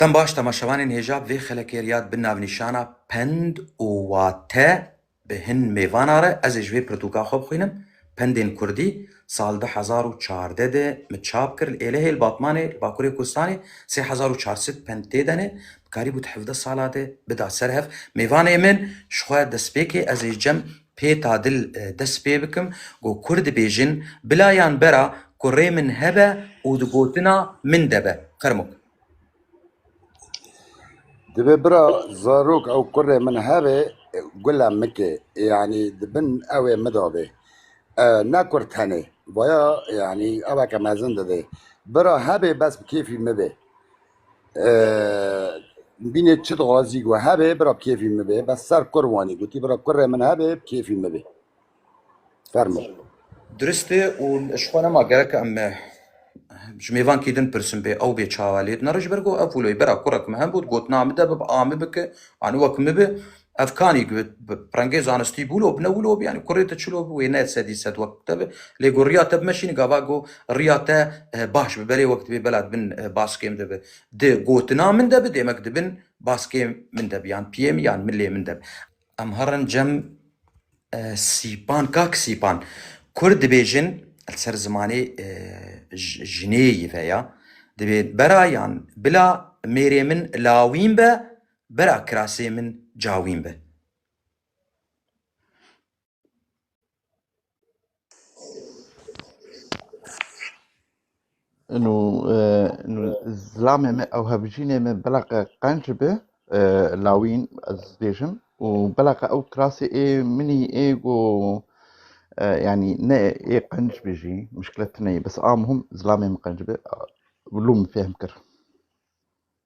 Dem baş temaşevanên hêja vê xelekê riyad bi navnîşana Pend û wate bi hin mêvana re ez ê ji vê pirtûka xwe bixwînim, Pendên Kurdî, sal du hezar û çardeh de min çap kir, li Êlihê, li Batmanê, li Bakurê Kurdistanê sê hezar û çar sed pend tê denê, dikarîbû di hevdeh sala de bida ser hev. Mêvanê min ji xwe destpêkê ez ê ji cem pê ta dil dest pê bikim, got Kurd dibêjin, bila yan bera ku rê min hebe û di gotina min de be. Qermûk. Divê bira zarok ew kurê min hebê gula mike yanî di bin ewê min de bê. Ne kur tenê vaya yanî eveke mezin dibê. Bira hebê bes bi kêfî min bê. Binê çi dixwazî ku hebê bira bi kêfî min bê. Bes ser kur wanî gotî bira kurê min hebê bi kêfî min bê. Fermo. Dirist e û ji xwe nema gerek em e, ji mêvankî din pirsim bê ew bê çawa lê dina re ji ber ku ev wilo ye. Bera kura ku min hebû digotina min de bib a min bike anî wek min bi ev kanî bi pirengê zanistî bû wilo bi ne wilo bi yanî kurê te çilo bi wê ne sedî sed wek te bi lê ku riya te bi me şînî gava ku riya te eh, baş bi belê wek dibê bela dibin eh, baskê min de bi di gotina min de bi dêmek dibin baskê min de bi yan piyê min yan milê min de bi. Em herin cem Sîpan Kak Sîpan, kurd dibêjin li ser zimanê jinêyî ve ya, divê bera yan bila mêrê min lawîn be, bera kirasê min cawîn be. Nû nû zilamê me ew hevjînê me bila qe qenc be e, lawîn ez bêjim û bila qe ew kirasê ê minî ê go e, yanî ne ê qenc bê jî mişkilet neyê bes a muhim zilamê min qenc be lû min fêhm kir.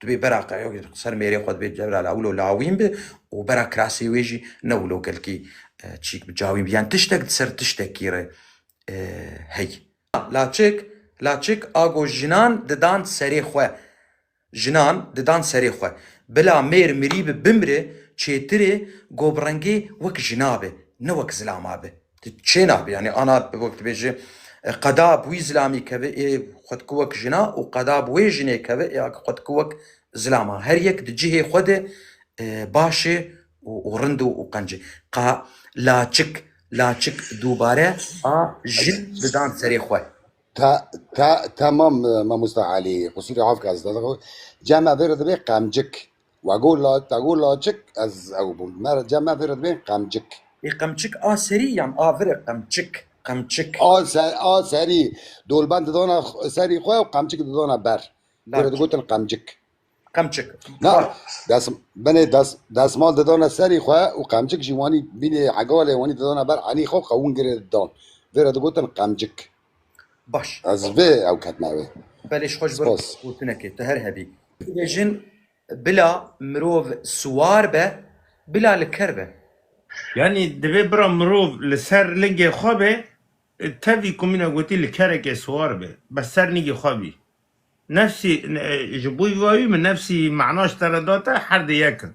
Tu bê bera qeyok ser mêrê xwe dibê cewra lawilo lawîn bi û bera kirasê wê jî ne wilo kelkî çîk bi cawîn bi yan tiştek di ser tiştekî re hey. Laçik laçik a got jinan didan serê xwe jinan didan serê xwe bila mêr mirî bi bimri çêtir ê got bi rengê wek jina be ne wek zilama be. Ti çê nabî? Yanî ana wek tu bêjî qeda bi wî zilamî keve ê xwe dike wek jin a û qeda bi wê jinê keve ê xwe dike wek zilam a. Her yek di cihê xwe de baş ê û rind û qenc ê. Ka laçik laçik dubare a jin didan serê xwe. Ta ta tamam mamosta Elî. Qusûrê avka zî. Cem vê re dibê qemcik. We got la te got laçik ez ew bûm. Me re cem me vê re dibên qemcik. Ê qemçik a serî yan a vir e qemçik, qemçik. A ser a serî. Dolbend di dana serî xwe û qemçik di dana ber. Vê re digotin qemcik. Qemçik. Na des binê des desmal di dana serî xwe û qemçik jî wanî bînê hegalê wanî di dana ber enî xwe qewûn girê dan. Vê re digotin qemcik. Baş. Ez vê ew ketime wê. Belê ji xwe ji ber Spas. gotinekê tu her hebî. Dibêjin bila mirov siwar be, bila li ker be. Yanî divê bira mirov li ser lingê xwe be, tevî ku min e gotî li kerekê siwar be, bes ser lingê xwe bî. Nefsî, ji bo vî wî min nefsî mana ji te re date, her di yek in.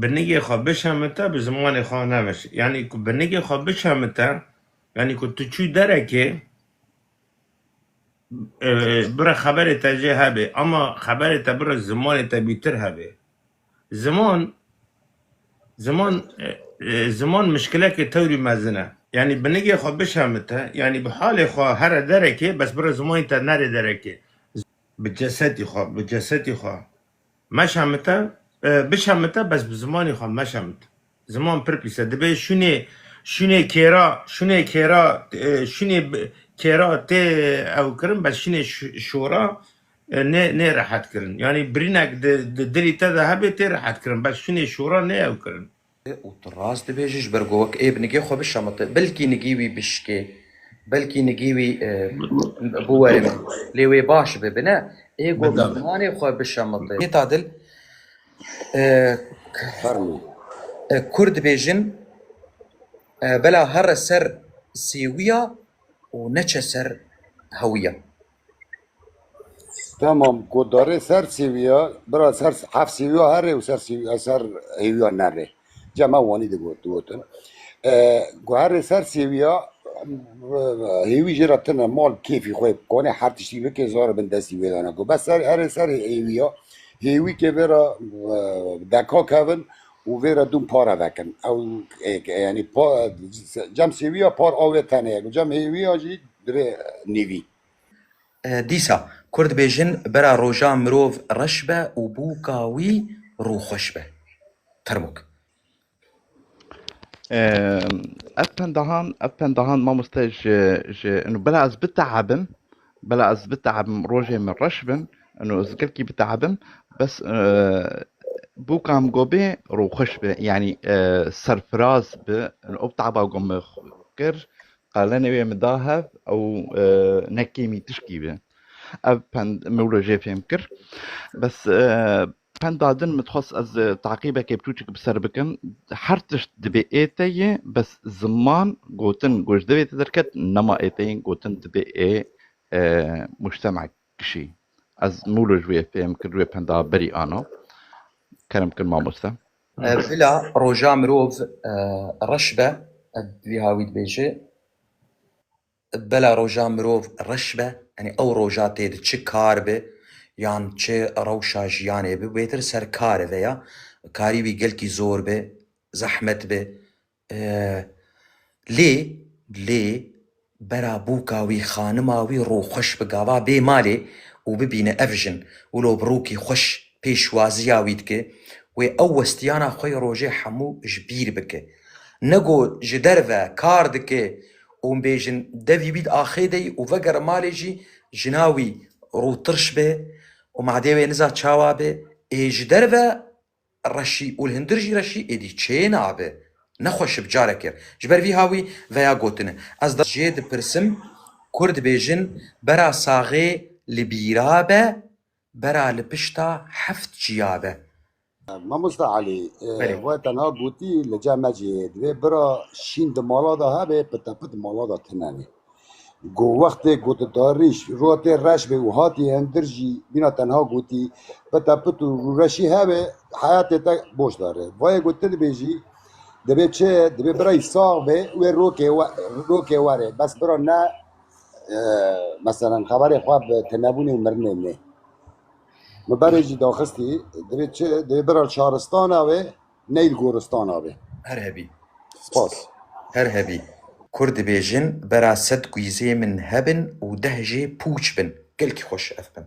Binigê xwe bişemite bi zimanê xwe nemiş. Yanî ku binigê xwe bişemite yanî ku tu çû derekê e, bira xeberê te jê hebê ama xeberê te bira zimanê te bîtir hebê. Ziman ziman e, e, ziman mişkilekê tewrî mezin e. Yanî binigê xwe bişemite yanî bi halê xwe here derekê bes bira zimanê te nerê derekê. Bi cesetî xwe, bi cesetî xwe meşemite, bişemite bes bi zimanî xwe meşemit. Ziman pir pîs e. Dibe şûnê şûnê kêra, şûnê kêra, e, şûnê bi- kêra tê ew kirin bes şûnê şi- şora e, nê nê rehet kirin. Yanî birînek di di dilî te de hebê tê rehet kirin bes şûnê şora nê ew kirin. Û tu rast dibêjî ji ber ku wek ê bi nigê xwe bişamite. Belkî nigî wî bişkê. Belkî nigî wî biwere min. Lê wê baş be. Bi ne ê ku zimanê xwe bişamite. Hêta dil Fermî. Kurd dibêjin bela here ser sêwiya û neçe ser hewiya. Tamam ku darê ser sêwiya bira ser hef sêwiya herê û ser sêwiya ser hêwiya nerê. Ca me wanî digot digotin. Ku herê ser sêwiya hêwî jê re tune mal kêfî xwe konê her tiştî bike zora bin destî wê dana ku bes ser herê ser hêwiya hêwî kê vera deka kevin û vê re dûm pare vekin. Ew êk e yanî pa cem sêwî ya par awê tenê ye ku cem hêwî ya jî divê nîvî. Dîsa Kurd dibêjin bera roja mirov reş be û bûka wî rûxweş be. Termok. Ev pendahan ev pendahan mamoste ji ji inu bila ez biteebim. Bela ez biteebim rojê min reş bin û ez gelkî biteebim bes bûka min got bê rûxweş bi yanî serfiraz bi ew teeba got min kir qalenê wê min da hev ew ne kêmî tişkî bi ev pend min wilo jê fêm kir bes Penda din min dixwest ez taqîbekê bçûçik bi ser bikim. Her tişt dibê ê te yê bes ziman gotin ku ji dilê te derket nema ê te yê gotin dibê ê mujtemek kişî. Ez mûlo ji wê fêm kir ji wê penda berî ana. Kerem kir mamoste. Bila roja mirov reş be, ev wiha wî dibêje. Bela roja mirov reş be, yanî ew roja tê di çi kar be yan çi rewşa jiyanê be bêtir ser kar e veya karî wî gelkî zor be, zehmet be. Lê lê bera bûka wî xanima wî rû xweş bi gava bê malê û bibîne ev jin wilo bi rûkî xweş pêşwaziya wî dike wê ew westiyana xwe yê rojê hemû ji bîr bike. Nego ji derve kar dike Hûn bêjin devî bît axê de û vegere malê jî jina wî rû tirş be û madê wê niza çawa be, ê ji derve reşî û li hundir jî reşî êdî çê nabe. Nexwe şib careke ji ber vî hawî veya gotine. Ez di jê dipirsim, Kurd bêjin bera saxê li bîra be Bera li pişta heft çiya be. Mamosta Elî, we tenha gotî li cem mecî divê bira şîn di mala de hebe pitepit mala de tune be. Ku wextê ku tu tarîj rûya te reş be û hatî hindir jî mîna tenha gotî pitepit û rûreşî hebe heyatê te boş dare. Vayê ku tu dibêjî divê çi divê birayî sax be wê rokê were bes bira ne Meselen xeberê xwe bi tunebûnê û mirinê nê. Min berê jî daxistî divê çi divê bira li şaristana wê ney li goristana wê. Her hebî. Spas. Her hebî. Kurd dibêjin bera sed guîzê min hebin û deh jê pûç bin. Gelkî xweş ev bin.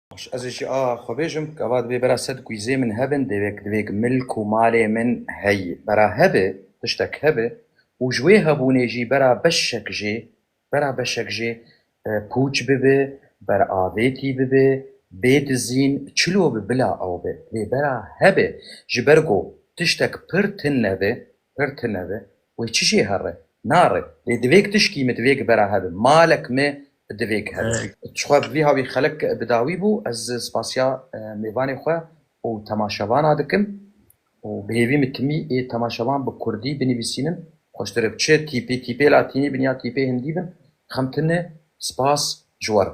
Baş ez ê jî a xwe bêjim, gava divê bera sed kûyzê min hebin, dêvek divêk milk û malê min heyî. Bera hebe, tiştek hebe û ji wê hebûnê jî bera beşek jê, bera beşek jê pûç bibe, beravêtî bibe, bê dizîn, çilo bi bila ew be. Divê bera hebe, ji ber ku tiştek pir tin nebe, Pir tune be. Wê çi jê here? Nare. Lê divêg tişkî min divêg bera hebe. Malek me divêg hebe. Tixwe bi vî havî xelek bi dawî bû. Ez spasiya mêvanê xwe û temaşevana dikim û bi hêvî min timî ê temaşevan bi kurdî binivîsînim. Xweştir e çi tîpê tîpê latînî bin ya tîpê hindî bin. Xem tune spas ji we re.